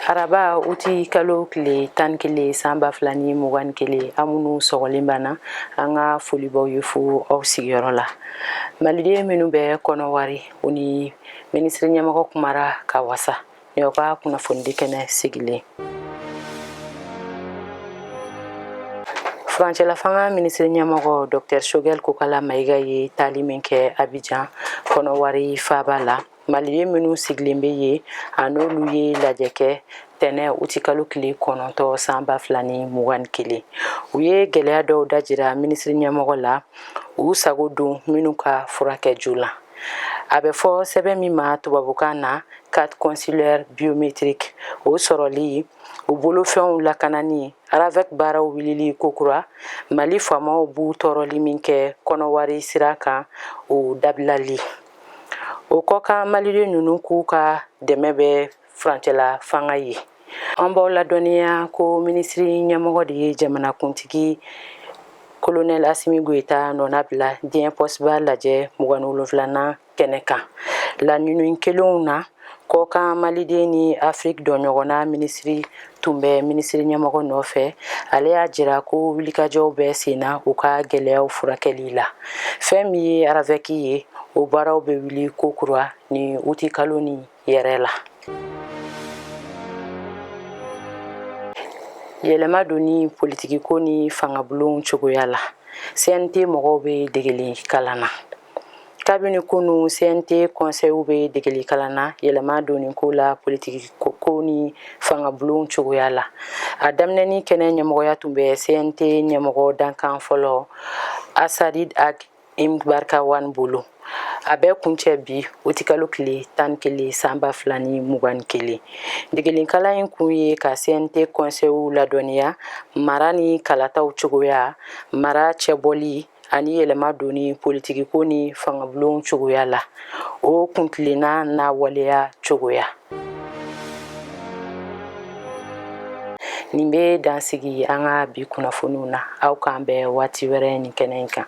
araba uti kalo tile tan ni kelen san ba fila ni mugan ni kelen an minnu sɔgɔlen banna an ka foli b'aw ye fo aw sigiyɔrɔ la maliden minnu bɛ kɔnɔwari u ni minisiri ɲɛmɔgɔ kumara ka wasa Nin y'aw ka kunnafonidi kɛnɛ sigilen furancɛlafanga minisiri ɲɛmɔgɔ dɔktɛr shogɛl kokala mayiga ye taali min kɛ abijan kɔnɔwari faaba la maliden minnu sigilen bɛ yen a n'olu ye lajɛ kɛ tɛnɛn uti kalo tile kɔnɔntɔn san ba fila ni mugan ni kelen u ye gɛlɛya dɔw dajira minisiri ɲɛmɔgɔ la u sago don minnu ka furakɛ joona a bɛ fɔ sɛbɛn min ma tubabukan na carte consulaire biométrique o sɔrɔli u bolofɛnw lakanani aravɛk baaraw wulili kokura mali faamaw b'u tɔɔrɔli min kɛ kɔnɔwari sira kan o dabilali o kɔkan maliden ninnu k'u ka dɛmɛ bɛ furancɛla fanga ye an b'aw ladɔnniya ko minisiri ɲɛmɔgɔ de ye jamanakuntigi kolonɛl asimi goyita nɔnabila diɲɛ pɔsiba lajɛ mugan ni wolonfilanan kɛnɛ kan laɲini kɛlenw na kɔkan maliden ni afiriki donɲɔgɔnna minisiri tun bɛ minisiri ɲɛmɔgɔ nɔfɛ ale y'a jira ko wulikajɔw bɛ senna u ka gɛlɛyaw furakɛli la fɛn min ye aravɛki ye o baaraw bɛ wuli kokura nin uti kalo nin yɛrɛ la yɛlɛma donni politikiko ni fangabulonw cogoya la cnt mɔgɔw bɛ degeli kalan na kabini kunu cnt kɔnsɛyiw bɛ degeli kalan na yɛlɛma donni ko la politikiko ni fangabulonw cogoya la a daminɛni kɛnɛ ɲɛmɔgɔya tun bɛ cnt ɲɛmɔgɔ dankan fɔlɔ asarid ag imbarikawani bolo a bɛ kuncɛ bi uti kalo tile tan ni kelen san ba fila ni mugan ni kelen degelikalan in kun ye ka cnt kɔnsɛyiw ladɔnniya mara ni kalataw cogoya mara cɛbɔli ani yɛlɛma donni politikiko ni fangabulon cogoya la o kuntilenna n'a waleya cogoya nin bɛ dan sigi an ka bi kunnafoniw na aw k'an bɛn waati wɛrɛ nin kɛnɛ in kan